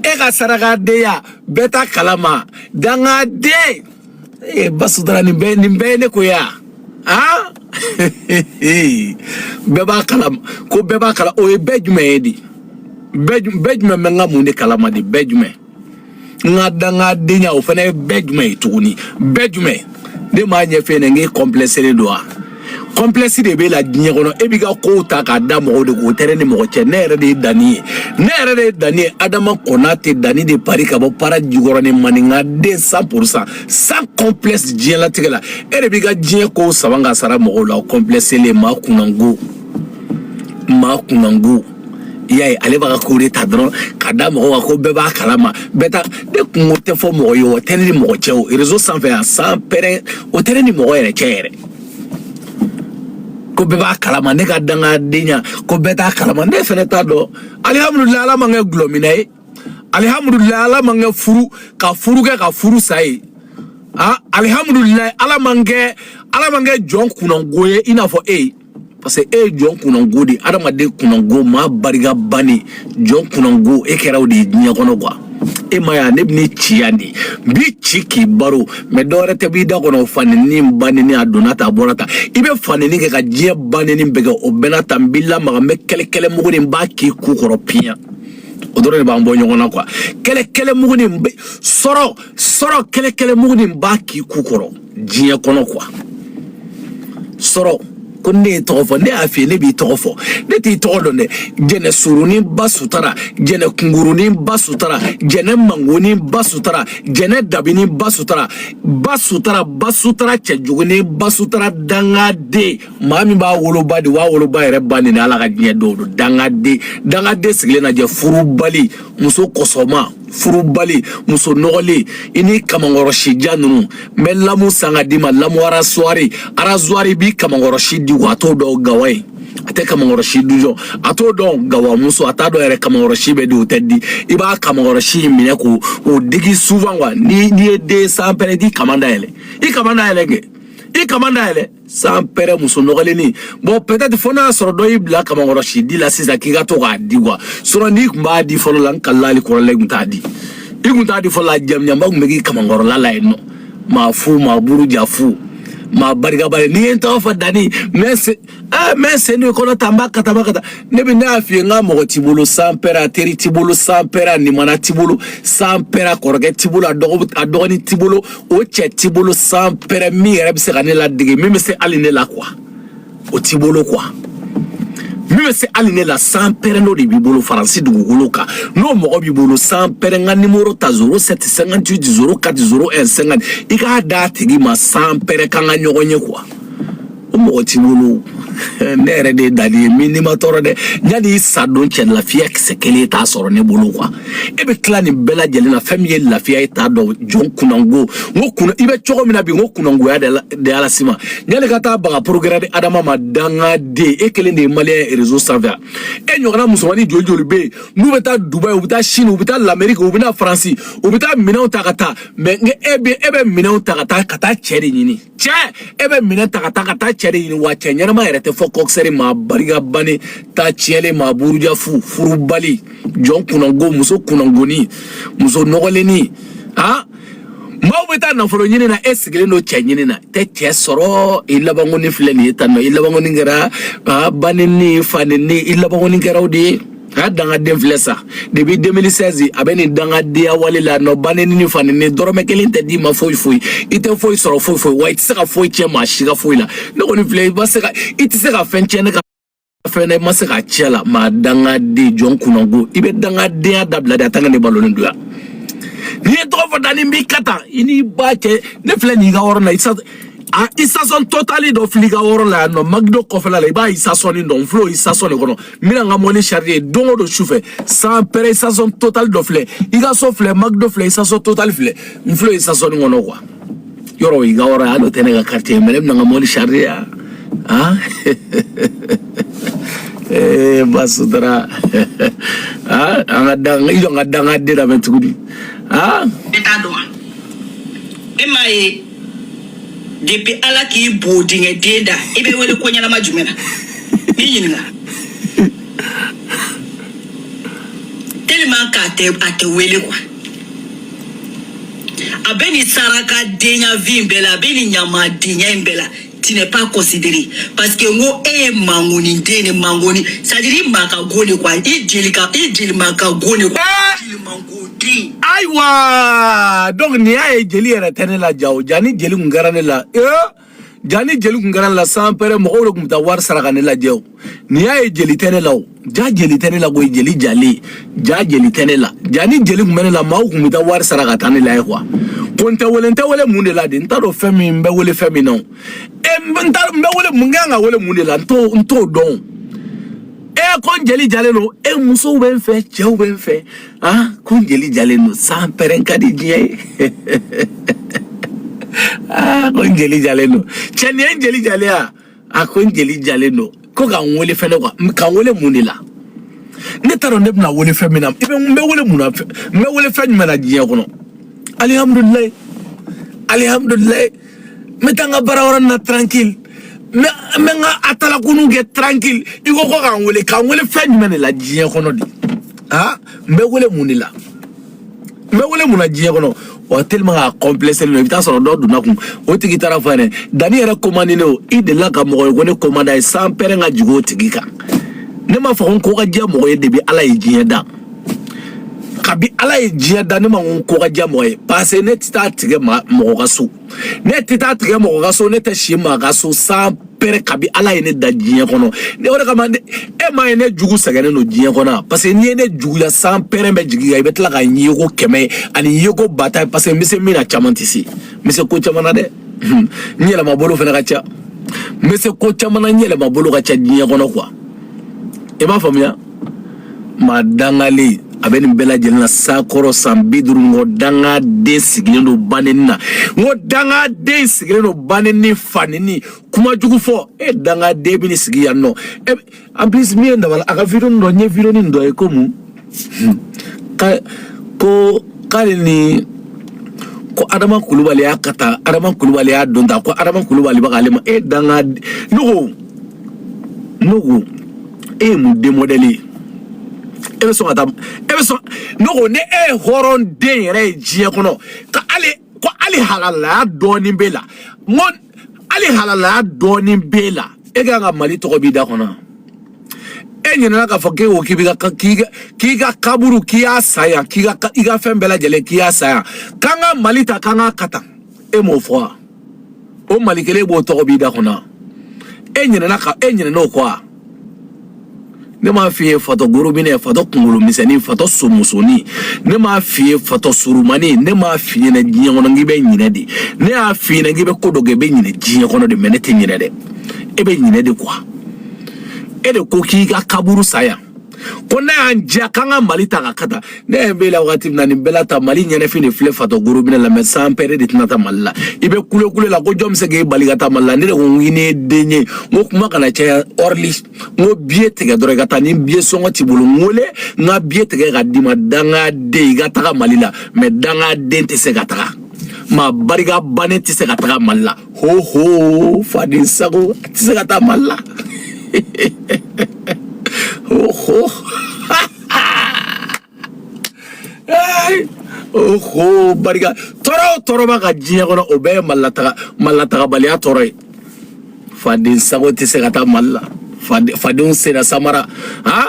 e ka sarakadenya bɛɛ t'a kalama dangaden ee basutara nin bɛɛ nin bɛɛ ye ne ko ye a han bɛɛ b'a kalama ko bɛɛ b'a kalama o ye bɛɛ jumɛn ye de bɛɛ ju- bɛɛ jumɛn bɛ n ka mun de kalama de bɛɛ jumɛn n ka dangadenya o fana ye bɛɛ jumɛn ye tuguni bɛɛ jumɛn ne m'a ɲɛfɛ ne n k'e kɔnpilɛselen don wa complexe de b'e la diɲɛ kɔnɔ e b'i ka kow ta k'a da mɔgɔw de k'o tɛ ne ni mɔgɔ cɛ ne yɛrɛ de ye dani ye ne yɛrɛ de ye dani ye adama konate dani de paris ka bɔ para jikɔrɔnin maninka den cent pour cent sans complexe diɲɛlatigɛ la e de b'i ka diɲɛ kow saban ka sara mɔgɔw la o kɔnplɛselen maa kunnango maa kunnango i y'a ye ale b'a ka kow de ta dɔrɔn ka da mɔgɔw kan ko bɛɛ b'a kalama bɛɛ ta ne kunko tɛ fɔ mɔgɔ ye o tɛ ne ni mɔgɔ cɛ o réseau sanfɛ yan sans père o tɛ ne ni mɔgɔ yɛrɛ cɛ yɛrɛ ko bɛɛ b'a kalama ne ka dangadenya ko bɛɛ t'a kalama ne fɛnɛ t'a dɔn alihamudulila ala ma n kɛ gulɔmina ye alihamudulila ala ma n kɛ furu ka furu kɛ ka furu sa ye a alihamudulila ala ma n kɛ ala ma n kɛ jɔn kunnango ye i n'a fɔ e ye parce que e ye jɔn kunnango de adamaden kunnango maa barika bannen jɔn kunnango e kɛra o de ye diɲɛ kɔnɔ quoi e m'a ye ne bɛ ne ci yan de n b'i ci k'i baro mɛ dɔwɛrɛ tɛ b'i da kɔnɔ fanini banini a donna ta a bɔra ta i bɛ fanini kɛ ka diɲɛ banini bɛɛ kɛ o bɛɛ n'a ta n b'i lamaga n bɛ kɛlɛkɛlɛ mugu nin b'a k'i ku kɔrɔ piyan o dɔrɔn de b'an bɔ ɲɔgɔn na quoi kɛlɛkɛlɛ mugu nin bɛ sɔrɔ sɔrɔ kɛlɛkɛlɛ mugu nin b'a k'i ku kɔrɔ diɲɛ kɔnɔ quoi sɔrɔ ko ne y'i tɔgɔ fɔ ne y'a f'i ye ne b'i tɔgɔ fɔ ne t'i tɔgɔ dɔn dɛ jɛnɛ surunin basutara jɛnɛ kunkurunin basutara jɛnɛ mangonin basutara jɛnɛ dabinin basutara basutara basutara cɛjugunin basutara dangaden maa min b'a woloba de b'a woloba yɛrɛ bannen a la ka diɲɛ dɔw don dangaden dangaden sigilen na jɛ furubali muso kɔsɔma furubali muso nɔgɔlen i ni kamankɔrɔsi jan ninnu n bɛ lamu san k'a d'i ma lamu arasuwari arasuwari b'i kamankɔrɔsi di wa a t'o dɔn gawa ye a tɛ kamankɔrɔsi dujɔ a t'o dɔn gawamuso a t'a dɔn yɛrɛ kamankɔrɔsi bɛ di o tɛ di i b'a kamankɔrɔsi in minɛ k'o o digi souvent wa n'i ye den sans père i k'i kaman dayɛlɛ i kaman dayɛlɛ kɛ i kaman dayɛlɛ sans père muso nɔgɔlennin bon peut-être fo n'a y'a sɔrɔ dɔ y'i bila kamankɔrɔsi di la sisan k'i ka to k'a di quoi sɔrɔ n'i tun b'a di fɔlɔ la n kalila hali kɔrɔla i tun t'a di i tun t'a di fɔlɔ la jamijanba tun bɛ k'i kamankɔrɔla la yen nɔ maa fu maa buru ja fu maa barika bannen n'i ye n tɔgɔ fɔ dani n bɛ se aa n bɛ sen de kɔrɔta n b'a kata n b'a kata ne bɛ ne y'a f'i ye n ka mɔgɔ t'i bolo sans père a teri t'i bolo sans père a nimana t'i bolo sans père a kɔrɔkɛ t'i bolo a dɔgɔ a dɔgɔnin t'i bolo o cɛ t'i bolo sans père min yɛrɛ bɛ se ka ne ladege min bɛ se hali ne la quoi o t'i bolo quoi min bɛ se hali ne la sans père n'o de b'i bolo faransi dugukolo kan n'o mɔgɔ b'i bolo sans père n ka nimoro ta zéro sept cinquante huit zéro quatre zéro un cinquante i k'a d'a tigi ma sans père k'an ka ɲɔgɔn ye quoi o mɔgɔ t'i bolo ne yɛrɛ de ye dali ye min n'i ma tɔɔrɔ dɛ yanni i sa don cɛ lafiya kisɛ kelen i t'a sɔrɔ ne bolo quoi e bɛ tila nin bɛɛ lajɛlen na fɛn min ye lafiya ye i t'a dɔn jɔn kunnango n ko kun i bɛ cogo min na bi n ko kunnangoya de y'a lase i ma yanni ka taa ba ka programme di adama ma dangaden e kelen de ye maliyɛn ye rezo sanfɛ e ɲɔgɔnna musomanin joli joli bɛ yen n'u bɛ taa dubayi u bɛ taa sini u bɛ taa lameriki u bɛ na faransi u bɛ taa minɛnw ta ka taa mais e bɛ e bɛ minɛnw ta ka taa ka taa cɛ de ɲini cɛ e bɛ minɛn ta ka taa ka taa cɛ de ɲini wa cɛ ɲɛnama yɛrɛ tɛ fo kɔkisɛri maa barika bannen ta tiɲɛlen maa buruja fu furubali jɔn kunnango muso kunnangonin muso nɔgɔlennin maaw bɛ taa nafolo ɲini na e sigilen don cɛ ɲini na i tɛ cɛ sɔrɔ i laban kɔni filɛ nin ye tan nɔ i laban kɔni kɛra ba neni fa neni i laban kɔni kɛra o de ye a ye dangaden filɛ sa depuis 2016 a bɛ nin dangadenya wale la nɔ ba neni fa neni dɔrɔmɛ kelen tɛ d'i ma foyi foyi i tɛ foyi sɔrɔ foyi foyi wa i tɛ se ka foyi tiɲɛ maa si ka foyi la ne kɔni filɛ i ma se ka i tɛ se ka fɛn tiɲɛ ne ka fɛn na i ma se ka tiɲɛ la maa dangaden jɔn kunnango i bɛ dangadenya dabila dɛ tant que ne balolen don yan n'i ye n tɔgɔ fɔ da ni b'i ka tan i n'i ba cɛ ne filɛ nin i ka yɔrɔ la i sa a isasɔn totali dɔ filɛ i ka yɔrɔ la yan nɔ McDo kɔfɛla la i b'a isasɔn nin dɔn n filɛ o isasɔn de kɔnɔ n bɛ na n ka mɔbili charger don o don sufɛ sans père isasɔn total dɔ filɛ i ka so filɛ McDo filɛ isasɔn total filɛ n filɛ isasɔn in kɔnɔ quoi yɔrɔ o i ka yɔrɔ y'alo tɛ ne ka quartier mais ne bɛ na n ka mɔbili charger yan han ee ba sutura han an ka dan i jɔ n ka dangaden lamɛn tuguni han e t'a dɔn wa e m'a ye depuis ala k'i bodingɛ den da i bɛ wele ko ɲɛnama jumɛn na n b'i ɲininka tellement k'a tɛ a tɛ wele quoi a bɛ nin saraka denya vie in bɛɛ la a bɛ nin ɲamadenya in bɛɛ la tu n'es pas considéré parce que n ko e mangoni ndene mangoni c'est-à-dire ma ka goni quoi e jeli ka e jeli ma ka goni quoi jeli mangodi ayiwa donc ni y'a ye jeli yɛrɛ tɛ ne la jaw ja ni jeli kun kɛra ne la ee ja ni jeli kun kɛra ne la sans père mɔgɔw de kun bɛ taa wari saraka ne lajɛ o n'i y'a ye jeli tɛ ne la o ja jeli tɛ ne la koyi jeli jalen ja jeli tɛ ne la ja ni jeli tun bɛ ne la maaw tun bɛ taa wari sara ka taa ne lajɛ kuwa ko n tɛ wele n tɛ wele mun de la de n t'a dɔn fɛn min n bɛ wele fɛn min na o e n bɛ n t'a dɔn n bɛ wele mun kan ka wele mun de la n t'o n t'o dɔn e ko n jeli jalen don e musow bɛ n fɛ cɛw bɛ n fɛ ah ko n jeli jalen don san pɛrɛn ka di diɲɛ ye ah ko n jeli jalen don cɛ nin ye n jeli jalen ya a ko n jeli jalen don ko ka n wele fɛnɛ kuwa ka n wele mun de la ne t'a dɔn ne bɛna wele fɛn min na i bɛ n bɛ wele mun na n bɛ wele fɛn jumɛn na diɲɛ kɔnɔ alihamudulilayi alihamudulilayi n bɛ taa n ka baara wɛrɛ na tranquille n bɛ n bɛ n ka atalakunu kɛ tranquille i ko ko ka n wele ka n wele fɛn jumɛn de la diɲɛ kɔnɔ de aa n bɛ wele mun de la n bɛ wele mun na diɲɛ kɔnɔ wa tellement k'a complexélen don i bɛ taa sɔrɔ dɔ donna a kun o tigi taara a fɔ a ɲɛna dani yɛrɛ ko man di ne ye o i delila ka mɔgɔ ye ko ne ko man di a ye san pɛrɛn ka jigin o tigi kan ne m'a fɔ ko n ko ka diya mɔgɔ ye depuis ala ye diɲɛ dan kabi ala ye diɲɛ dan ne ma ko n ko ka diya mɔgɔ ye parce que ne tɛ taa tigɛ mɔgɔ ka so ne tɛ taa tigɛ mɔgɔ ka so ne tɛ si maa ka so san pɛrɛn kabi ala ye ne da diɲɛ kɔnɔ ne o de kama e m'a ye ne jugu sɛgɛnnen don diɲɛ kɔnɔ parce que n'i ye ne juguya san pɛrɛn bɛ jigin i bɛ tila ka yeko kɛmɛ ani yeko ba ta parce que n bɛ se min na caman tɛ se n bɛ se ko caman na dɛ n yɛlɛma bolo fana ka ca n bɛ se ko caman na n yɛlɛma bolo ka ca diɲɛ kɔnɔ kuwa i b'a faamuya maa dangalen a bɛ nin bɛɛ lajɛlen na sakɔrɔ san bi duuru n ko danga den sigilen don baneni na n ko danga den sigilen don baneni faneni kuma jugu fɔ e danga den bɛ ni sigi yan nɔ e en plus min ye n dabali ban a ka video dɔ n ye video nin dɔ ye ko mun ka ko k'ale ni ko adama kulubali y'a ka taa adama kulubali y'a don ta ko adama kulubali bɛ k'ale ma e danga ne ko n'o ko e ye mun den mɔdɛli ye e bɛ sɔn ka taa e bɛ sɔn n'o ko ni e ye hɔrɔn den yɛrɛ ye diɲɛ kɔnɔ ka hali ko hali halalaya dɔɔni b'e la n ko hali halalaya dɔɔni b'e la e ka kan ka mali tɔgɔ b'i da kɔnɔ e ɲinɛna k'a fɔ k'e ko k'i bɛ ka k'i ka k'i ka kaburu k'i y'a san yan k'i ka i ka fɛn bɛɛ lajɛlen k'i y'a san yan k'an ka mali ta k'an k'a kata e m'o fɔ wa. o mali kelen b'o tɔgɔ b'i da kɔnɔ e ɲinɛna ka e ɲinɛna o kɔ wa ne m'a f'i ye fatɔ gorobinɛ fatɔ kunkolo misɛnnin fatɔ somusonin ne m'a f'i ye fatɔ surumani ne m'a f'i ɲɛna diɲɛ kɔnɔ k'i bɛ ɲinɛ de ne y'a f'i ɲɛna k'i bɛ ko dɔ kɛ i bɛ ɲinɛ diɲɛ kɔnɔ de mais ne tɛ ɲinɛ dɛ e bɛ ɲinɛ de kuwa e de ko k'i ka kaburu san yan ko n'a y'an diya k'an ka mali ta ka ka ta ne yɛrɛ bɛ la wagati min na nin bɛɛ la ta mali ɲɛnafin de filɛ fatɔ gorobinɛ la mɛ san pɛrɛ de tɛna taa mali la i bɛ kulekule la ko jɔn bɛ se k'e bali ka taa mali la ne de ko n'e ye den ye n ko kuma kana caya ɔrili n ko biye tigɛ dɔrɔn i ka taa ni biye sɔngɔ t'i bolo n wele n ka biye tigɛ ka d'i ma dangaden i ka taga mali la mɛ dangaden tɛ se ka taga maa barika bannen tɛ se ka taga mali la ho ho faden sago tɛ se ka taa mali la ho ho oho barika tɔɔrɔ o tɔɔrɔ b'a ka diɲɛ kɔnɔ o bɛɛ ye malilatagabaliya tɔɔrɔ ye faden sago tɛ se ka taa mali la faden sen na samara han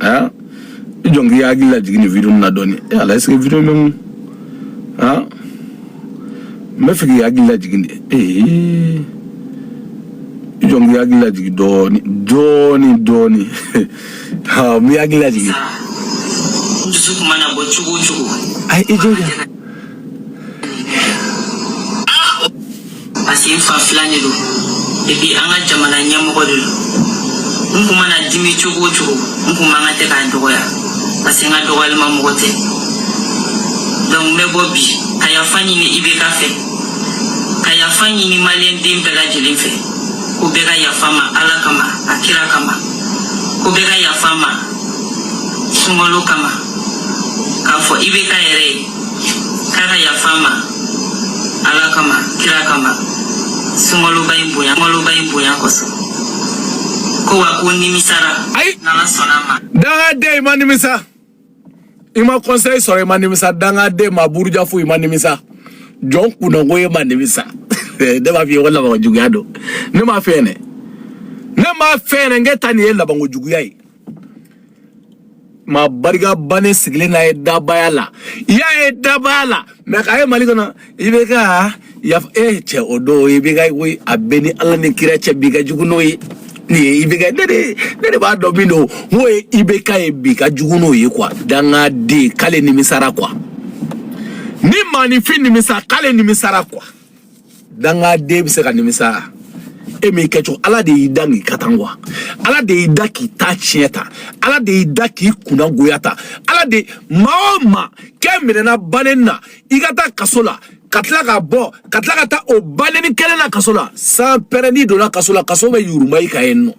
aa i jɔ n k'i hakili lajigin nin video na dɔɔni e ala est ce que video bɛ mun aa n b'a fɛ k'i hakili lajigin de ee i jɔ n k'i hakili lajigin dɔɔni dɔɔni dɔɔni aa n b'i hakili lajigin. dusu kun mana bɔ cogo o cogo. ayi i jɔ ja. parce que n fa filan de don epi an ka jamana ɲɛmɔgɔ de don n kun mana dimi cogo o cogo n kun man kan tɛ k'a dɔgɔya parce que n ka dɔgɔyalima mɔgɔ tɛ donc n bɛ bɔ bi ka yafa ɲini IBK fɛ ka yafa ɲini maliyɛn den bɛɛ lajɛlen fɛ ko bɛɛ ka yafa ma ala kama a kira kama ko bɛɛ ka yafa ma sunkalo kama k'a fɔ IBK yɛrɛ ye k'a ka yafa ma ala kama kira kama sunkaloba in bonya sunkaloba in bonya kosɔn ko wa ko nimisara ayi n'ala sɔnna ma dangaden i ma nimisa i ma conseil sɔrɔ i ma nimisa dangaden maa buruja fu i ma nimisa jɔn kunnago e ma nimisa ne b'a f'i ye ko labanko juguya don ne m'a fɛ ne ne m'a fɛ ne n k'e ta nin ye labanko juguya ye maa barika bannen sigilen na ye dabaya la i y'a ye dabaya la mɛ k'a ye mali kɔnɔ IBK yafa e eh, cɛ o don IBK ko a bɛ ni ala ni kira cɛ bi ka jugu n'o ye nin ye IBK ne de ne de b'a dɔn min don n'o ye IBK ye bi ka jugu n'o ye kuwa dangaden k'ale nimisara kuwa ni maanifin nimisa k'ale nimisara kuwa. dangaden bɛ se ka nimisa e m'i kɛcogo ala de y'i da k'i kɛ tan wa ala de y'i da k'i ta tiɲɛ ta ala de y'i da k'i kunna goya ta ala de maa o maa kɛ minɛna banɛni na i ka taa kaso la ka tila ka bɔ ka tila ka taa o banɛni kelen na kaso la san pɛrɛnin donna kaso la kaso bɛ yuruma i ka yen nɔ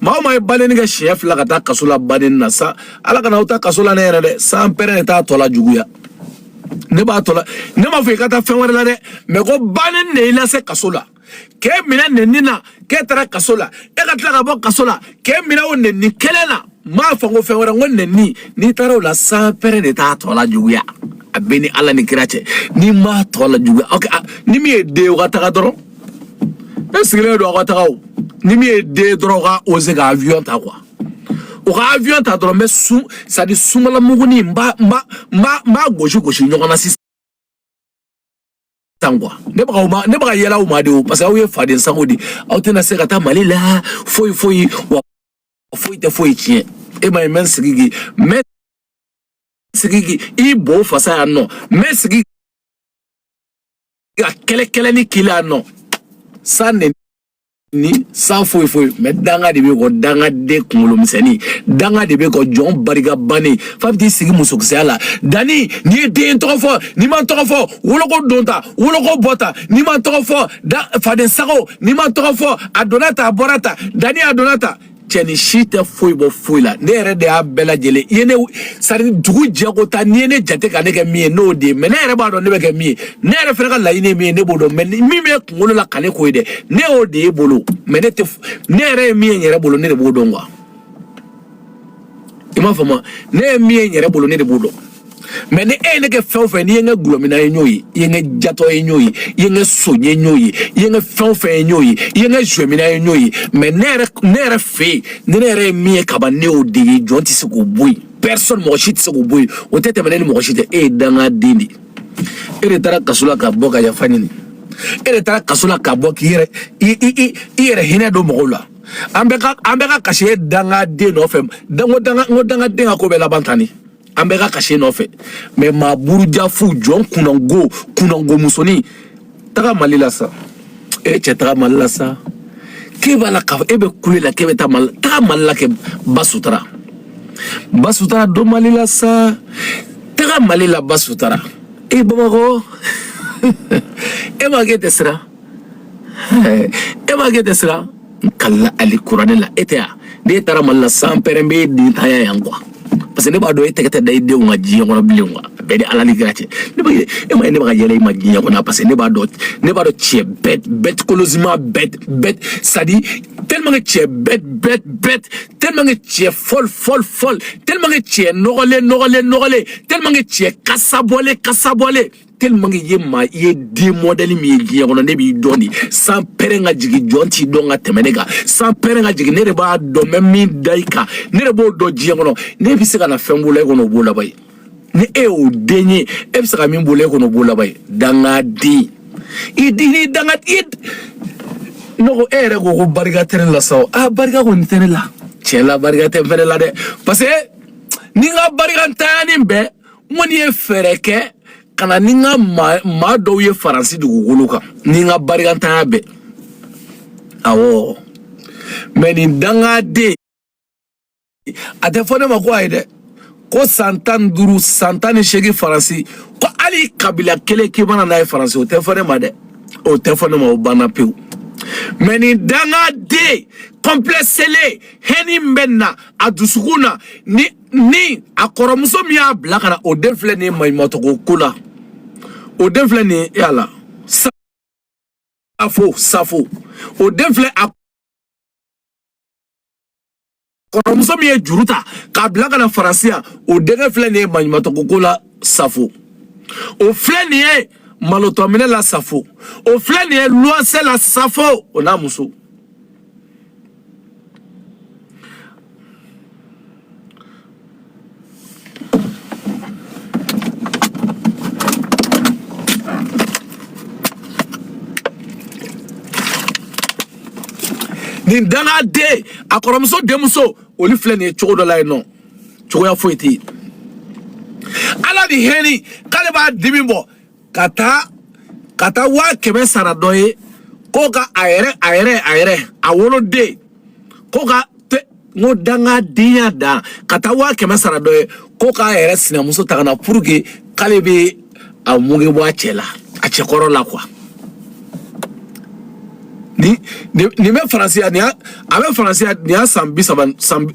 maa o maa ye banɛni kɛ siɲɛ fila ka taa kaso la banɛni na sa ala kana aw ta kaso la ne yɛrɛ dɛ san pɛrɛn de t'a tɔ la juguya ne b'a tɔ la ne m'a fɔ i ka taa fɛn wɛrɛ la dɛ mɛ ko banɛni de y'i lase kaso la k'e minɛ nɛni na k'e taara kaso la e ka tila ka bɔ kaso la k'e minɛ o nɛni kelen na m'a fɔ ko fɛn wɛrɛ n ko nɛni n'i taara o la san pɛrɛn de t'a tɔ la juguya a b'e ni ala ni kira cɛ n'i m'a tɔ la juguya ok a- ni min ye den ye o ka taga dɔrɔn ne sigilen don aw ka taga o ni min ye den ye dɔrɔn o ka oze ka avion ta kuwa o ka avion ta dɔrɔn n bɛ sun sadi sumala muguni n b'a n b'a n b'a n b'a gosi gosi ɲɔgɔn na sisan tan kuwa ne bɛ ka o ma ne bɛ ka yɛlɛ aw ma dɛ wo parce que aw ye faden sago de aw tɛna se ka taa mali la foyi foyi wa foyi tɛ foyi tiɲɛ e ma ye mɛ sigi k'i mɛ sigi k'i i bo fasa yan nɔ mɛ sigi ka kɛlɛ kɛlɛ ni k'i la yan nɔ san nɛni ni san foyi foyi mɛ danga de b'e kɔ dangaden kunkolo misɛnnin danga de b'e kɔ jɔn barika bannen fa bɛ t'i sigi musokisɛya la danni n'i ye den n tɔgɔ fɔ n'i ma n tɔgɔ fɔ woloko don ta woloko bɔ ta n'i ma n tɔgɔ fɔ da faden sago n'i ma n tɔgɔ fɔ a donna ta a bɔra ta dani a donna ta cɛnin si tɛ foyi bɔ foyi la ne yɛrɛ de y'a bɛɛ lajɛlen ye ne sari dugu jɛko ta n'i ye ne jate ka ne kɛ min ye n'o de ye mɛ ne yɛrɛ b'a dɔn ne bɛ kɛ min ye ne yɛrɛ fana ka laɲini ye min ye ne b'o dɔn mɛ min b'e kunkolo la ka ne k'o ye dɛ ne y'o de y'e bolo mɛ ne tɛ ne yɛrɛ ye min ye n yɛrɛ bolo ne de b'o dɔn kuwa i m'a faamu ne ye min ye n yɛrɛ bolo ne de b'o dɔn mɛ ni e ye ne kɛ fɛn o fɛn n'i ye n kɛ gulɔmina ye n y'o ye i ye n kɛ jatɔ ye n y'o ye i ye n kɛ son ye n y'o ye i ye n kɛ fɛn o fɛn ye n y'o ye i ye n kɛ zuwɛmina ye n y'o ye mɛ ne yɛrɛ ne yɛrɛ fɛ yen ni ne yɛrɛ ye min ye kaban ne y'o de ye jɔn tɛ se k'o bɔ yen personne mɔgɔ si tɛ se k'o bɔ yen o tɛ tɛmɛ ne ni mɔgɔ si cɛ e ye dangaden de ye e de taara kaso la ka bɔ ka yafa ɲini e de taara kaso la ka bɔ k'i yɛrɛ i i i i yɛrɛ hinɛ don mɔgɔw la an bɛ ka an bɛ ka kasi e dangaden nɔfɛ danga danga n ko dangaden ka ko bɛ laban tan de an bɛɛ ka kasi e nɔfɛ mɛ maa burujafu jɔn kunango kunango musonin taga mali la sa e cɛ taga mali la sa k'e b'a la k'a fɔ e bɛ kule la k'e bɛ taa mali la taga mali la kɛ ba sutara ba sutara don mali la sa taga mali la ba sutara e bamakɔ e ma k'e tɛ siran e ma k'e tɛ siran kali alikuranɛ la e tɛ yan n'e taara mali la san pɛrɛn b'e den tanya yan kuwa parce que ne b'a dɔn e tɛgɛ tɛ da i denw kan diɲɛ kɔnɔ bilen kuwa a b'e ni ala ni kira cɛ ne b'a ye e ma ye ne bɛ ka yɛlɛ i ma diɲɛ kɔnɔ parce que ne b'a dɔn ne b'a dɔn cɛ bête bête kolosima bête bête sadi tellement que cɛ bête bête bête tellement que cɛ folle folle folle tellement que cɛ nɔgɔlen nɔgɔlen nɔgɔlen tellement que cɛ kasabɔlen kasabɔlen tellement que ye maa i ye den mɔdɛli min ye diɲɛ kɔnɔ ne b'i dɔn de sanpɛrɛn ka jigin jɔn t'i dɔn ka tɛmɛ ne kan sanpɛrɛn ka jigin ne de b'a dɔn mɛ min da i kan ne de b'o dɔn diɲɛ kɔnɔ ne bɛ se ka na fɛn b'o la e kɔnɔ o b'o laban ye ni e y'o den ye e bɛ se ka min b'o la e kɔnɔ o b'o laban ye dangaden i di ni danga i ne ko e yɛrɛ ko ko barika tɛ ne la sa o aa barika kɔni tɛ ne la tiɲɛ la barika tɛ n fɛnɛ la dɛ parce que ni n ka barikantanya ni bɛɛ mais ne ye fɛɛrɛ kɛ ka na ni n ka maa dɔw ye faransi dugukolo kan ni n ka barikantanya bɛɛ awɔ mais nin dangaden a tɛ fɔ ne ma ko a ye dɛ ko san tan ni duuru san tan ni seegin faransi ko hali kabila kelen k'i ma na n'a ye faransi o tɛ fɔ ne ma dɛ o tɛ fɔ ne ma o banna pewu mais nin dangaden kɔnpilɛselen haine min bɛ na a dusukun na ni ni a kɔrɔmuso min y'a bila ka na o den filɛ nin ye maɲumatogo ko la o den filɛ nin ye yaala safo safo o den filɛ a kɔrɔmuso min ye juru ta k'a bila ka na faransi yan o denkɛ filɛ nin ye maɲumatogo ko la safo o filɛ nin ye malotɔminɛ la safo o filɛ nin ye luwansɛ la safo o n'a muso nin dangaden a kɔrɔmuso denmuso olu filɛ nin ye cogo dɔ la yen nɔ cogoya foyi tɛ yen ala ni haine k'ale b'a dimi bɔ ka taa ka taa waa kɛmɛ sara dɔ ye ko ka a yɛrɛ a yɛrɛ a yɛrɛ a woloden ko ka te n ko dangadenya dan ka taa waa kɛmɛ sara dɔ ye ko k'a yɛrɛ sinamuso ta ka na pour que k'ale bɛ a muge bɔ a cɛ la a cɛkɔrɔ la quoi nin nin nin bɛ faransi yan nin y'a a bɛ faransi yan nin y'a san bi saba san bi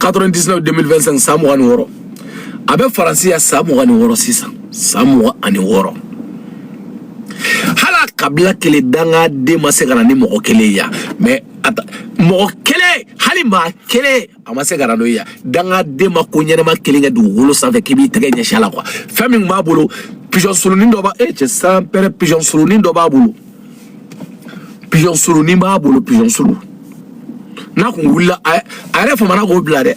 quatre-vingt-dix-neuf deux mille vingt-cinq san mugan ni wɔɔrɔ a bɛ faransi yan san mugan ni wɔɔrɔ sisan san mugan ani wɔɔrɔ hali kabila kelen dangaden ma se ka na ni mɔgɔ kelen ye mais mɔgɔ kelen hali maa kelen a ma se ka na n'o ye dangaden ma ko ɲɛnɛma kelen kɛ dugukolo sanfɛ k'i b'i tɛgɛ ɲɛsin a la quoi fɛn min b'a bolo pigeon sulunin dɔ b'a e cɛ sanpɛrɛn pigeon sulunin dɔ b'a bolo pigeon sulunin b'a bolo pigeon sulu n'a kun wulila a yɛrɛ fa ma na k'o bila dɛ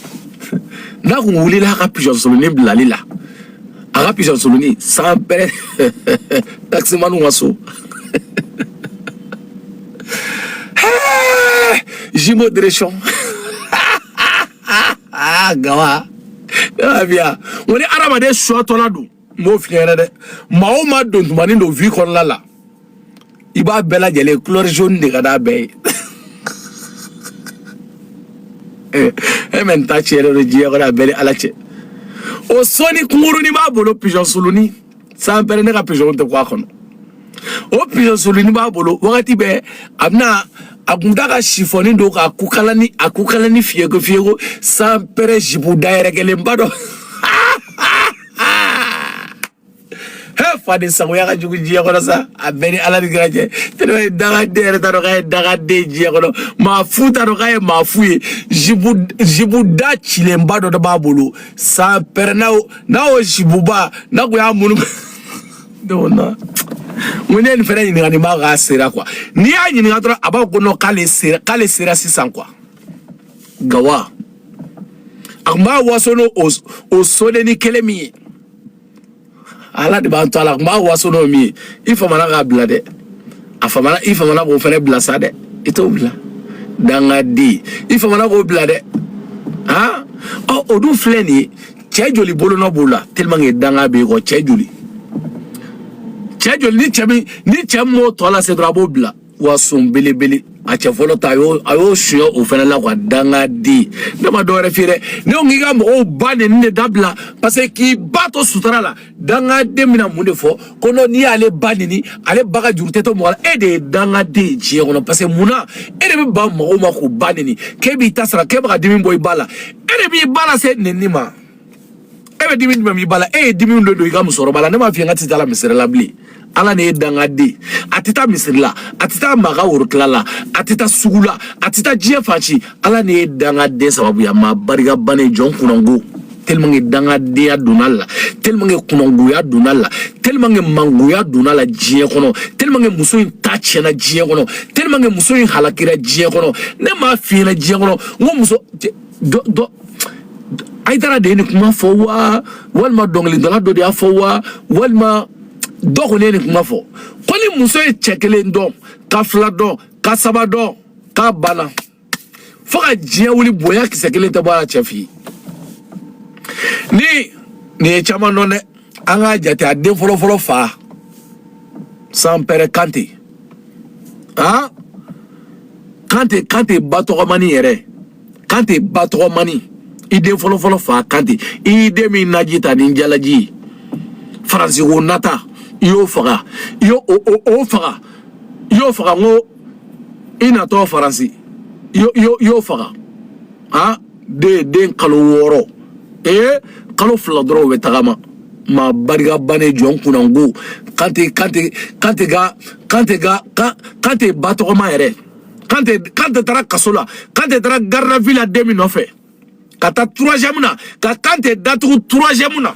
n'a kun wulila a ka pigeon sulunin bilali la a ka pigeon sulunin sanpɛrɛn takisimaniw ka so jimo direction gawa y'a faamuya n ko ni hadamaden sɔ tɔla don n m'o f'i yɛrɛ ye dɛ maa o maa don tumanin don vi kɔnɔna la i b'a bɛɛ lajɛlen couleur jaune de ka d'a bɛɛ ye eh, e min ta tiɲɛnen don diɲɛ kɔnɔ a bɛɛ ni ala cɛ o sɔni kunkurunin b'a bolo pigeon soloni san pɛrɛ ne ka pigeon tɛ quoi kɔnɔ o pigeon soloni b'a bolo wagati bɛɛ a bɛna a kun da ka sifɔni don k'a kukalani a kukalani fiyeko fiyeko san pɛrɛ zipu da yɛrɛkɛlenba dɔ fadensagoya ka jugu diɲɛ kɔnɔ sa a bɛɛ ni ala ni kira cɛ tellement que dangaden yɛrɛ t'a dɔn k'a ye dangaden diɲɛ kɔnɔ maa fu t'a dɔn k'a ye maa fu ye zipu zipu da cilenba dɔ de b'a bolo san pɛrɛ n'a y'o n'a y'o zipuba n'a kun y'a munu donc na mun ne ye nin fɛnɛ ɲininka nin b'a k'a sera quoi n'i y'a ɲininka dɔrɔn a b'a fɔ ko non k'ale sera k'ale sera sisan quoi gawa a tun b'a waso n'o o sodenni kelen min ye ala de b'an to a la a tun b'a waso n'o min ye i famana k'a bila dɛ a famana i famana k'o fana bila sa dɛ i t'o bila dangaden i famana k'o bila dɛ han ɔ o dun filɛ nin ye cɛ joli bolonɔ b'o la tellement que danga b'e kɔ cɛ joli cɛ joli ni cɛ min ni cɛ min m'o tɔ lase dɔrɔn a b'o bila wa son belebele a cɛ fɔlɔ ta a y'o a y'o suɲɛ o fana la quoi dangaden ne ma dɔwɛrɛ f'i ye dɛ ne ko k'i ka mɔgɔw ba nɛni dabila parce que k'i ba to sutura la dangaden bɛna mun de fɔ ko non n'i y'ale ba nɛni ale ba ka juru tɛ to mɔgɔ la e de ye dangaden ye diɲɛ kɔnɔ parce que mun na e de bɛ ban mɔgɔw ma k'u ba nɛni k'e b'i ta sara k'e bɛ ka dimi bɔ i ba la e de b'i ba lase nɛni ma. e bɛ dimi jumɛn b'i ba la e ye dimi de don i ka musokɔrɔba la ne m'a f'i ye n k'a tɛ taa la misiri la bilen ala ne ye dangaden a tɛ taa misiri la a tɛ taa maga worotila la a tɛ taa sugu la a tɛ taa diɲɛ fan si ala ne ye dangaden sababuya maa barika bannen jɔn kunango tellement que dangadenya donna la tellement que kunangoya donna la tellement que mangoya donna la diɲɛ kɔnɔ tellement que muso in ta tiɲɛna diɲɛ kɔnɔ tellement que muso in halakira diɲɛ kɔnɔ ne m'a f'i ɲɛna diɲɛ kɔnɔ n ko muso dɔ dɔ ayidara de ye nin kuma fɔ wa walima dɔnkilidala dɔ de y'a fɔ wa walima dɔ kɔni ye nin kuma fɔ ko ni muso ye cɛ kelen dɔn ka fila dɔn ka saba dɔn k'a banna fo ka diɲɛ wuli bonya kisɛ kelen tɛ bɔ a la cɛ fɛ yen ni nin ye caman dɔn dɛ an k'a jate a den fɔlɔfɔlɔ fa san pɛrɛ kante han kante kante ba tɔgɔmani yɛrɛ kante ba tɔgɔmani i den fɔlɔfɔlɔ fa kante i den min naji ta ni jalaji ye faransi ko nata i y'o faga i y'o o o o faga i y'o faga n ko i natɔ faransi i y'o- i y'o- i y'o faga ha den den kalo wɔɔrɔ ee kalo fila dɔrɔn o bɛ tagama maa barika bannen jɔn kunnango kante kante kante ka kante ka ka kante ba tɔgɔma yɛrɛ kante kante taara kaso la kante taara garde à vue la den min nɔfɛ ka taa troisième na ka kante datugu troisième na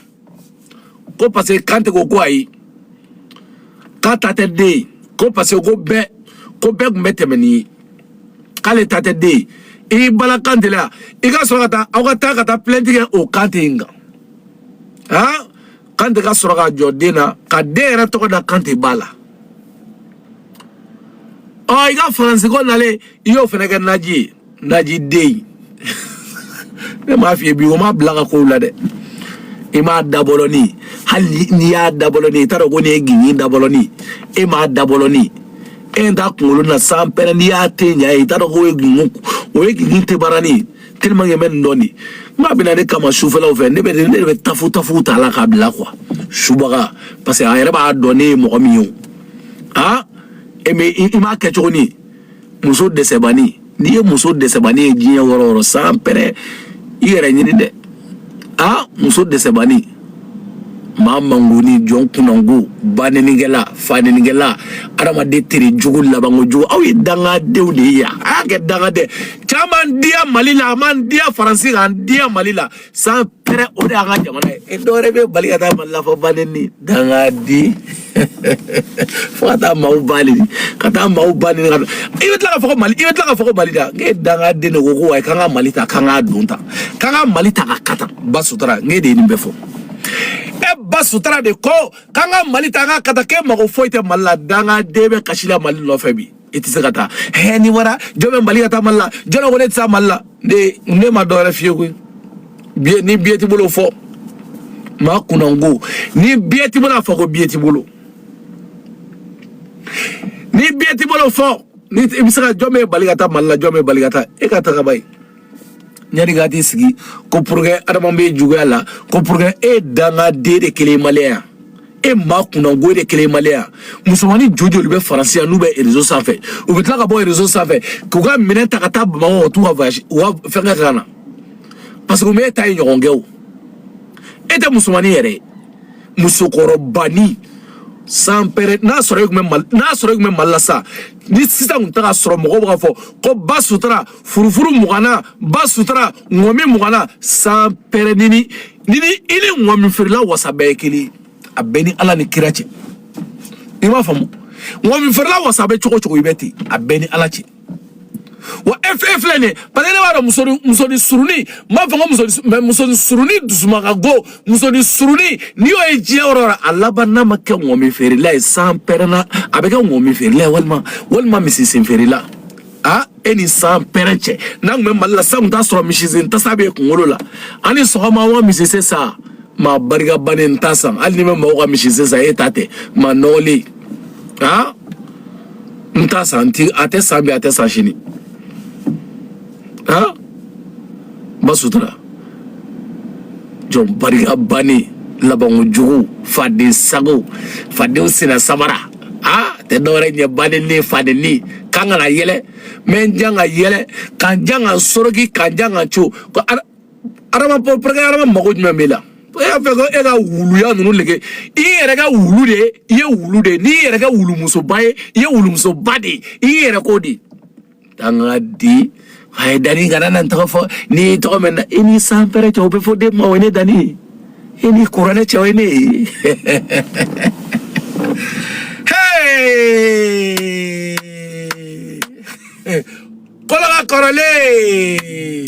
ko parce que kante ko ko ayi k'a ta tɛ den ye ko parce que ko bɛɛ ko bɛɛ tun bɛ tɛmɛ ni ye k'ale ta tɛ den ye i y'i bala kante la i ka sɔrɔ ka taa aw ka taa ka taa plainte kɛ o kante in kan han. kante ka sɔrɔ ka jɔ den na ka den yɛrɛ tɔgɔ da kante ba la ɔ i ka faransi ko nalen i y'o fɛnɛ kɛ naji ye naji den ne m'a f'i ye bi o ma bila ka kow la dɛ i m'a dabɔlɔni hali n'i y'a dabɔlɔni i t'a dɔn ko nin ye gigin dabɔlɔni e m'a dabɔlɔni e t'a kunkolo na sanpɛrɛn n'i y'a te ɲa ye i t'a dɔn k'o ye gigin o ye gigin tebarani ye tellement que n bɛ nin dɔn de n k'a bɛna ne kama sufɛlaw fɛ ne bɛ ne de bɛ tafu tafu ta la k'a bila quoi subaga parce que a yɛrɛ b'a dɔn ne ye mɔgɔ min ye o ah e mais i i m'a kɛcogo ni muso dɛsɛbani n'i ye muso dɛsɛbani ye diɲɛ yɔrɔ o yɔrɔ sanpɛrɛn i yɛrɛ ɲini dɛ ah muso dɛsɛbani maa mangonin jɔn kunnango banenikɛla fanenikɛla adamaden tere jugu labanko jugu aw ye dangadenw de ye yan a y'a kɛ dangaden caman diya mali la a man diya faransi k'an diya mali la sanpɛrɛn o de y'an ka jamana ye e dɔwɛrɛ b'e bali ka taa mali la fɔ baneni dangaden fo ka taa maaw bali ka taa maaw bali ka i bɛ tila ka fɔ ko mali i bɛ tila ka fɔ ko mali da ne dangaden de ko ko ayi k'an ka mali ta k'an k'a don ta k'an ka mali ta ka kata ba sutura ne de ye nin bɛɛ fɔ e ba sutura de ko k'an ka mali ta k'an ka kata k'e mago foyi tɛ mali la dangaden bɛ kasi la mali nɔfɛ bi i tɛ se ka taa hɛ ni wara jɔn b'e bali ka taa mali la jɔn ko ne tɛ taa mali la ne ne ma dɔwɛrɛ f'i ye koyi biye ni biye t'i bolo fo maa kunnango ni biye t'i bolo a fɔ ko biye t'i bolo ni biye t'i bolo fɔ ni i bɛ se ka jɔn b'e bali ka taa mali la jɔn b'e bali ka taa e ka taga i ba ye yanni ka t'i sigi ko pour que adama bɛ juguya la ko pour que e dangaden de kelen maliyɛn e maa kunnango de kelen maliyɛn musomanin jo joli bɛ faransi yan n'u bɛ réseau sanfɛ u bɛ tila ka bɔ réseau sanfɛ k'u ka minɛn ta ka taa bamakɔ ka t'u ka voyage u ka fɛnkɛ ka na parce que u m'e ta in ɲɔgɔn kɛ o e tɛ musomanin yɛrɛ ye musokɔrɔbanin sanpɛrɛn n'a sɔrɔ e tun bɛ mali n'a sɔrɔ e tun bɛ mali la sa ni sisan tun tɛ k'a sɔrɔ mɔgɔw b'a fɔ ko ba sutura furufuru mugana ba sutura ŋɔmi mugana san pɛrɛn i ni i ni i ni ŋɔmi feerela wasa bɛɛ ye kelen a bɛ n ni ala ni kira cɛ i b'a faamu ŋɔmi feerela wasa bɛ cogo cogo i bɛ ten a bɛ n ni ala cɛ wa e fɛn filɛ nin ye parce que ne b'a dɔn musoni musoni suruni n b'a fɔ ko musoni mɛ musoni suruni dusumaka go musoni suruni n'i y'o ye diɲɛ yɔrɔ yɔrɔ a laban n'a ma kɛ ŋɔmi feerela ye san pɛrɛnna a bɛ kɛ ŋɔmi feerela ye walima walima misisen feerela a e ni san pɛrɛ cɛ n'an tun bɛ mali la san tun t'a sɔrɔ misisen tasa b'e kunkolo la aw ni sɔgɔma aw ka misisen san maa barika bannen n t'a san hali ni n bɛ mɔgɔw ka misisen san e ta tɛ maa nɔgɔlen aa n t'a san a tɛ san bi a tɛ san sini aa ba sutura jɔn barika bannen labanko jugu faden sago fadenw sen na samara aa tɛ dɔwɛrɛ ɲɛ baden ne faden ne k'an kana yɛlɛ mɛ n jan ka yɛlɛ kan jan ka soroki kan jan ka co ko adama pɔrɔkɛ adama mago jumɛn b'i la e y'a fɛ ko e ka wuluya ninnu nege i yɛrɛ kɛ wulu de i ye wulu de n'i yɛrɛ kɛ wulumusoba ye i ye wulumusoba de ye i yɛrɛ ko de Dangaden a ye dani kana na n tɔgɔ fɔ ni ye tɔgɔ min na i ni san pɛrɛ cɛ o bɛ fɔ den ma o ye ne dani i ni kuranɛ cɛ o ye ne ye kɔlɔnla kɔrɔlen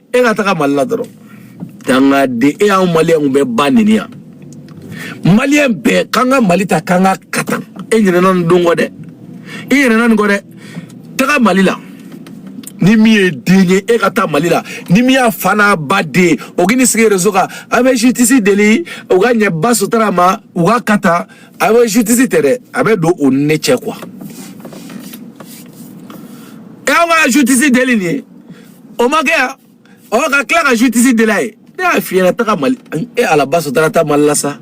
e ka taga mali la dɔrɔn dangaden e y'anw maliyɛnw bɛɛ ba neni yan maliyɛn bɛɛ k'an ka mali ta k'an ka katan e ɲinɛna nin don kɔ dɛ i ɲinɛna nin kɔ dɛ taga mali la ni min ye den ye e ka taa mali la ni min y'a fa n'a ba den o k'i ni sigi réseau kan a bɛ justice deli u ka ɲɛ ba sutura ma u ka ka ta a bɛ justice tɛ dɛ a bɛ don o ni ne cɛ quoi e y'aw ka justice deli nin ye o ma kɛ yan o ka tila ka justice deli a ye ne y'a f'i ɲɛna taga mali e ala ba sutura taa mali la sa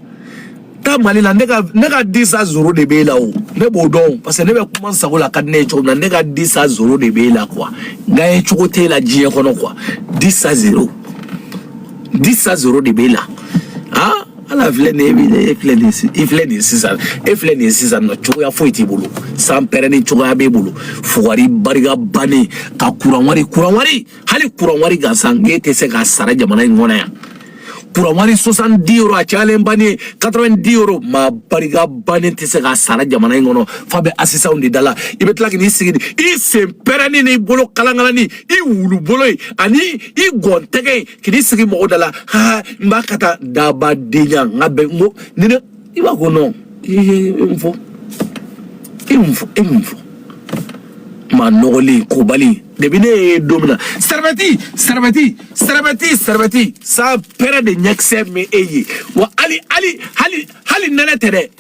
taa mali la ne ka ne ka dix à zéro de b'e la o ne b'o dɔn parce que ne bɛ kuma n sago la ka di ne ye cogo min na ne ka dix à zéro de b'e la quoi n ka ye cogo t'e la diɲɛ kɔnɔ quoi dix à zéro dix à zéro de b'e la han. ala filɛ nin ye min ye e filɛ nin ye i filɛ nin ye sisan e filɛ nin ye sisan nɔ cogoya foyi t'i bolo san pɛrɛnnen cogoya b'e bolo fugari barika bannen ka kuran wari kuran wari hali kuran wari gansan k'e tɛ se k'a sara jamana in kɔnɔ yan kuran wari soixante-dix euros a cayalen bannen ye quatre-vingt-dix euros maa barika bannen tɛ se k'a sara jamana in kɔnɔ f'a bɛ assistantw de da la i bɛ tila k'i sigi i sen pɛrɛnnen n'i bolo kalankalanni i wulubolo ye ani i gɔntɛgɛ ye kini sigi mɔgɔ da la ha n b'a ka taa dabadenya n ka bɛn n ko ni ne i b'a ko nɔn i ye n fɔ e mun fɔ e mun fɔ maa nɔgɔlen kobali depuis ne ye don min na sarabɛti sarabɛti sarabɛti sarabɛti san pɛrɛ de ɲɛkisɛ min e ye wa hali hali hali hali nɛnɛ tɛ dɛ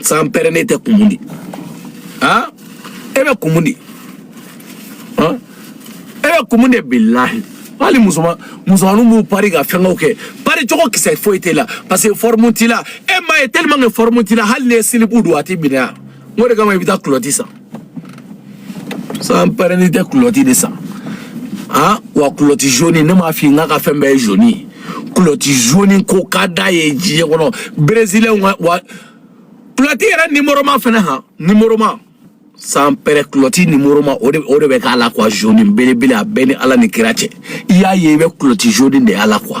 san pɛrɛnin tɛ kumun di han e bɛ kumun di han e bɛ kumun de bilahi hali musoman musomaninw b'u pari ka fɛngɛw kɛ pari cogo kisɛ foyi t'e la parce que fɔrimu t'i la e m'a ye tellement que fɔrimu t'i la hali n'i ye silibu don a t'i minɛ yan o de kama i bɛ taa kulɔti san san pɛrɛnin tɛ kulɔti de san han wa kulɔti zoni ne m'a f'i k'a ka fɛn bɛɛ ye zoni ye kulɔti zoni ko ka d'a ye diɲɛ kɔnɔ berezilɛnw ka wa kulɔti yɛrɛ nimoroma fɛnɛ han nimoroma san pɛrɛ kulɔti nimoroma o de o de bɛ k'a la quoi zoni belebele a bɛ n ni ala ni kira cɛ i y'a ye i bɛ kulɔti zoni de y'a la quoi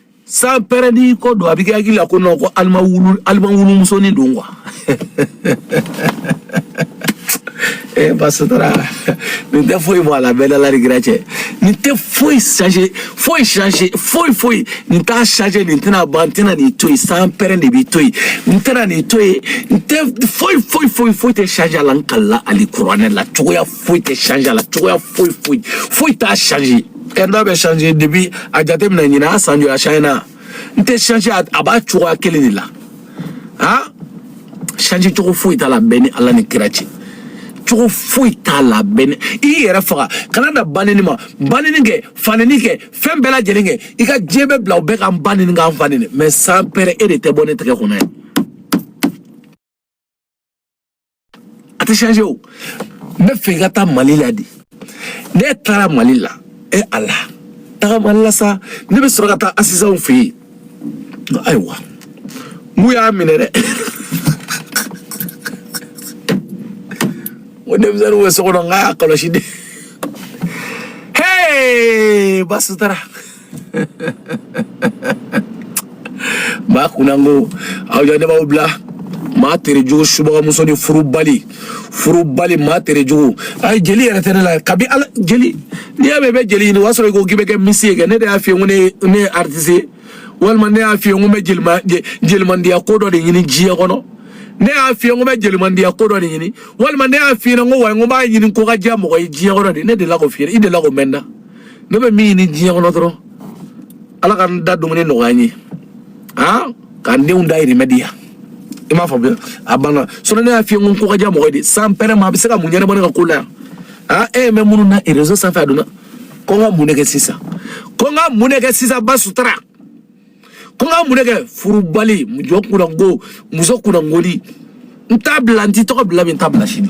san pɛrɛnin ko don a bɛ kɛ hakili la ko nɔ ko alima wulu alima wulu musonin don wa ee eh, basutara nin tɛ foyi bɔ a la bɛ n ni ala ni kira cɛ nin tɛ foyi changer foyi changer foyi foyi nin t'a changer nin tɛna ban n tɛna nin to yen san pɛrɛ de b'i to yen n tɛna nin to yen n tɛ foyi foyi foyi foyi tɛ changer a la n kalila alikuranɛ la cogoya foyi tɛ changer a la cogoya foyi foyi foyi t'a changer ɛri dɔ bɛ changer depuis a jate minɛ ɲinan a san joli a changer na nin tɛ changer a b'a cogoya kelen de la ha changer cogo foyi t'a la bɛ n ni ala ni kira cɛ cogo foyi t'a la bɛ n ni i yɛrɛ faga kana dan banini ma banini kɛ fanini kɛ fɛn bɛɛ lajɛlen kɛ i ka diɲɛ bɛɛ bila o bɛɛ k'an banini k'an fanini mais san pɛrɛ e de tɛ bɔ ne tɛgɛ kɔnɔ yan a tɛ changer o n b'a fɛ i ka taa mali la de ne taara mali la e a la taga mali la sa ne bɛ sɔrɔ ka taa asisanw fɛ yen ayiwa mun y'a minɛ dɛ o denmisɛnninw bɛ so kɔnɔ n k'a y'a kɔlɔsi dɛ hey basutara maa kunnango aw ɲanɛmaw bila maa terejugu subagamuso ni furubali furubali maa terejugu ayi jeli yɛrɛ tɛ ne la kabi ala jeli n'i y'a mɛn i bɛ jeli ɲini o y'a sɔrɔ i ko k'i bɛ kɛ misi ye kɛ ne de y'a f'i ye ko ne ye ne ye aritisi ye walima ne y'a f'i ye ko n bɛ jelima jelimandiya ko dɔ de ɲini diɲɛ kɔnɔ ne y'a f'i ye ko n bɛ jelimandiya ko dɔ de ɲini walima ne y'a f'i ɲɛna ko wa n ko n b'a ɲini ko ka diya mɔgɔ ye diɲɛ kɔnɔ de ne delila k'o f'i ɲɛna i delila k'o mɛn n da ne bɛ min ɲini diɲɛ kɔnɔ dɔrɔn ala ka n da dumuni nɔgɔya n ye han ka n denw dayirimɛ di yan i m'a faamuya a banna sinɔn ne y'a f'i ye n ko ko ka diya mɔgɔ ye de san pɛrɛn ma a bɛ se ka mun ɲɛnabɔ ne ka ko la yan han e bɛ minnu na rezo sanfɛ a donna ko n ka mun de kɛ sisan ko n ka mun de kɛ sisan ba sutura ko n ka mun de kɛ furubali muso kunango muso kunangonin n t'a bila n t'i tɔgɔ bila bi n t'a bila sini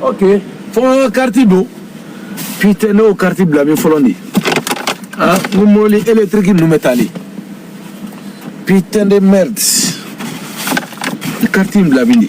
ok fo kariti don putain ne y'o kariti bila min fɔlɔ de ah n ko mobili eletiriki ninnu bɛ taali putain de merde kariti in bila min de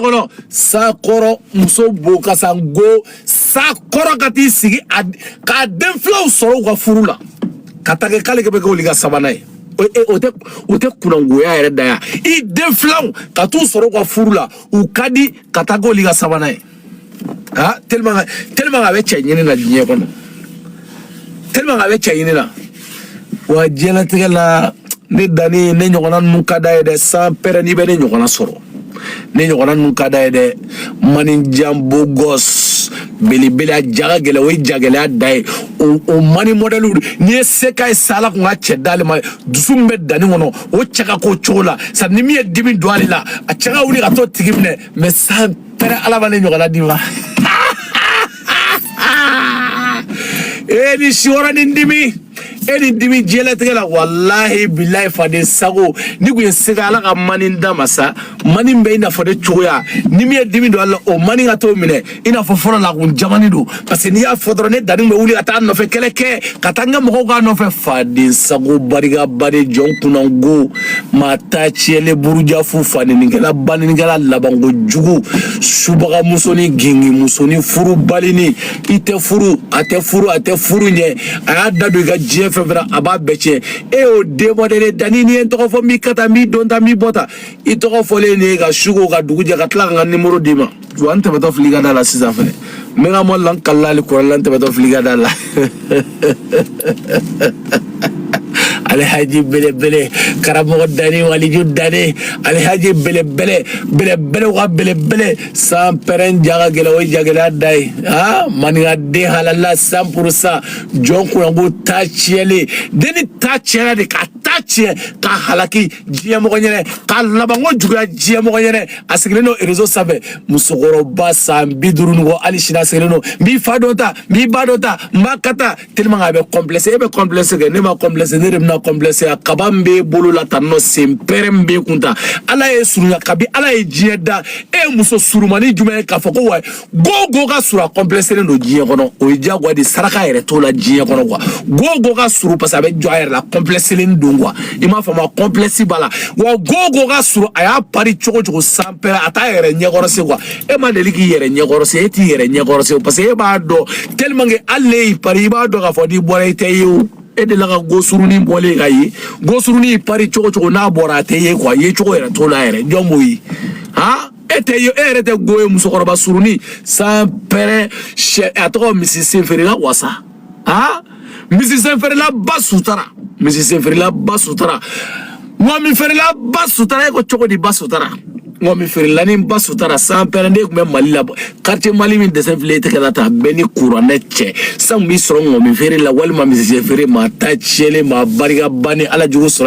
kɔnɔ sa kɔrɔ muso b'o kan sango sa kɔrɔ ka t'i sigi a k'a den filanw sɔrɔ u ka furu la ka ta kɛ k'ale bɛ kɛ olu ka sabanan ye o tɛ o tɛ kunangoya yɛrɛ dan ya i den filanw ka t'u sɔrɔ u ka furu la u ka di ka taa k'olu ka sabanan ye ah tellement tellement a bɛ cɛ ɲini na diɲɛ kɔnɔ tellement a bɛ cɛ ɲini na. wa diɲɛlatigɛ la ne danni ne ɲɔgɔnna ninnu ka d'a ye dɛ san pɛrɛn n'i bɛ ne ɲɔgɔnna sɔrɔ ne ɲɔgɔnna ninnu ka d'a ye dɛ mani jan beau gosse belebele a ja ka gɛlɛn o ye jagɛlɛya dan ye o mani mɔdɛliw n'i ye se k'a ye sa ala kun ka cɛ d'ale ma dusu min bɛ danni kɔnɔ o cɛ ka k'o cogo la sa ni min ye dimi don ale la a cɛ ka wuli ka t'o tigi minɛ mais san pɛrɛn ala ma ne ɲɔgɔnna d'i ma e ni si wɛrɛ ni dimi e ni dimi diɲɛlatigɛ la walahi bilahi faden sago n'i kun ye se k'a ala ka mani d'a ma sa mani bɛ i n'a fɔ ne cogoya ni min ye dimi don a la o mani ka t'o minɛ i n'a fɔ fɔlɔ la kun jamani don parce que n'i y'a fɔ dɔrɔn ne danni bɛ wuli ka taa nɔfɛ kɛlɛ kɛ ka taa n ka mɔgɔw k'a nɔfɛ faden sago barikabali jɔn kunnango maa ta tiɲɛlen burujafu fanenikɛla banenikɛla labanko jugu subaga musonin gingin musonin furubalinin i tɛ furu a tɛ furu a tɛ furu ɲɛ a y'a da don i ka diɲɛ fɛn fɛn a b'a bɛɛ tiɲɛ e y'o de mɔdɛli danni n'i ye n tɔgɔ fɔ n b'i ka ta n b'i don ta n b'i bɔ ta i tɔgɔ fɔlen ne ye ka su ko ka dugu jɛ ka tila ka n ka nimoro d'i ma wa n tɛmɛtɔ fili ka da la sisan fɛnɛ n bɛ n ka mɔli la n kalila hali kɔrɔla n tɛmɛtɔ fili ka da la alhaji belebele karamɔgɔ dani waliju dani alhaji belebele belebele wa belebele san pɛrɛn ja ka gɛlɛn o ye jagɛlɛya dan ye a maninka den halala cent pour cent jɔn kunango ta tiɲɛlen denni ta tiɲɛna de ka t'a tiɲɛ k'a halaki diɲɛmɔgɔ ɲɛnɛ k'a labanko juguya diɲɛmɔgɔ ɲɛnɛ a sigilen don rezo sanfɛ musokɔrɔba san bi duuru ni kɔ hali sini a sigilen don n b'i fa dɔ ta n b'i ba dɔ ta n b'a ka ta tellement a bɛ kɔnplɛse e bɛ kɔnplɛse kɛ ne ma kɔnplɛse ne de bɛna kɔnplɛse a kaba min b'e bolo la tan nɔ sanpɛrɛn min b'e kun ta ala y'e surunya kabi ala ye diɲɛ da e ye muso surumani jumɛn ye k'a fɔ ko wa go go ka surun a kɔnpilɛselen don diɲɛ kɔnɔ o ye diyagoya de saraka yɛrɛ t'o la diɲɛ kɔnɔ kuwa go go ka surun parce que a bɛ jɔ a yɛrɛ la kɔnpilɛselen don kuwa i m'a faamu a kɔnpilɛsi b'a la wa go go ka surun a y'a pari cogo cogo sanpɛrɛ a t'a yɛrɛ ɲɛkɔrɔ se kuwa e ma deli k'i yɛrɛ ɲɛkɔrɔ se e t'i yɛrɛ ɲɛkɔrɔ se parce que e b'a dɔn tellement que hali n'e y'i pari i b'a dɔn k'a fɔ n'i bɔra i tɛ ye o e delila ka gosurunin bɔlen ka ye gosurunin pari cogo cogo n'a bɔra a tɛ ye kuwa ye cogo yɛrɛ t'o la yɛrɛ jɔn b'o ye han e tɛ ye e yɛrɛ tɛ go ye musokɔrɔba surunin sanpɛrɛ sɛ a tɔgɔ misisenfeerela wasa aa misisenfeerela basutara misisenfeerela basutara ŋɔmifeerela basutara e ko cogo di basutara ŋɔmifeerelani basutara sanpɛrɛ ne tun bɛ mali la quartier mali min dɛsɛ file e tɛgɛ la ta bɛɛ ni kuranɛ cɛ san b'i sɔrɔ ŋɔmi feere la walima misisenfeere maa ta tiɲɛlen maa barika bannen ala jugu sɔrɔ